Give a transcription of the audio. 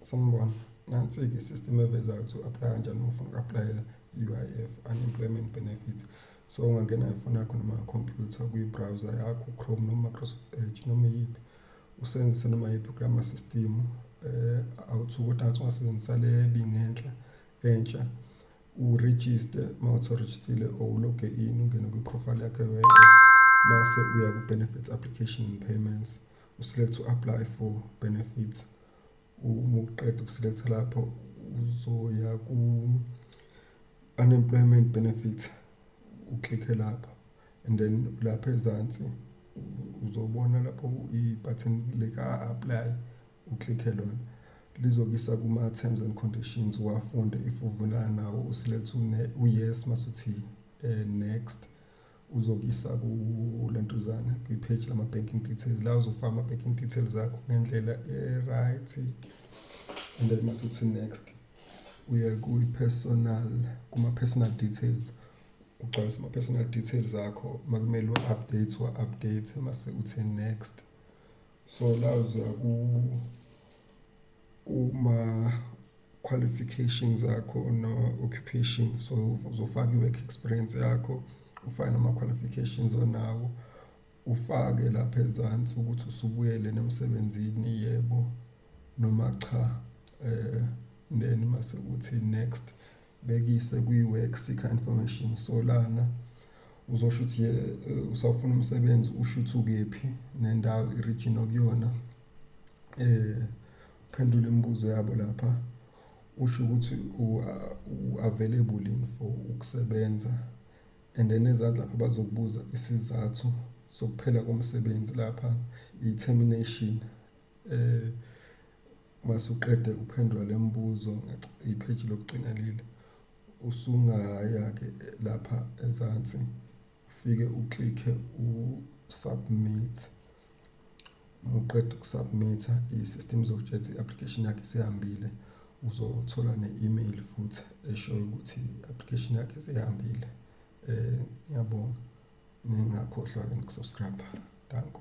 Sanibona, nansi-ke i-system evezayo ukuthi u-aplaya kanjani uma ufuna uku-aplayela i-U_I_F, Unemployment Benefits. So ungangena ngefoni yakho noma ngekhompyutha kwi-browser yakho u-Chrome noma Microsoft Edge noma iyiphi, usebenzise noma yiphi kula ma-system eh, awuthuki kodwa ngathi ungasebenzisa le bingenhla entsha urejiste uma uthi urejistile or uloge in ungene kwi-profile yakho ye-U_I_F mase uya ku-benefits application and payments. uselect u-apply for benefits uma uqeda ukuselecta lapho uzoya ku-unemployment benefits uklikhe lapho and then lapha ezansi uzobona lapho i-button lika-apply uklikhe lona lizokisa kuma-terms and conditions wafunde if uvumelana nawo uselect u-yes masuthi um eh, next uzokuyisa kule ntuzana kwi-page lama-banking details la uzofaka ama-banking details akho ngendlela e-right and then mase uthi next uye kwi-personal kuma-personal details ugcwalisa ama-personal details akho makumele u-update wa-update mase uthi next Sola uzoya kuma-qualifications akho no-occupation so uzofaka i-work experience yakho, ufake nama-qualifications onawo, ufake lapha ezansi ukuthi usubuyele yini emsebenzini, yebo noma cha, then mase kuthi next. Bhekise kwi-Work Seeker Information so lana uzosho ukuthi ye eh, usafuna umsebenzi usho ukuthi ukephi nendawo i-region okuyona eh phendula imibuzo yabo lapha usho ukuthi u-available in for ukusebenza and then ezansi lapha bazokubuza isizathu sokuphela komsebenzi lapha i-termination Eh masuqede ukuphendula lemibuzo ipage lokugcina leli usungaya ke lapha ezansi ufike uklikhe u submit muqeda ukusubmitha i-system izokutshela i-application yakhe isihambile uzothola ne-email futhi eshoyo ukuthi i-application yakhe isihambile um ngiyabonga ningakhohlwa ke nokusubscribe danko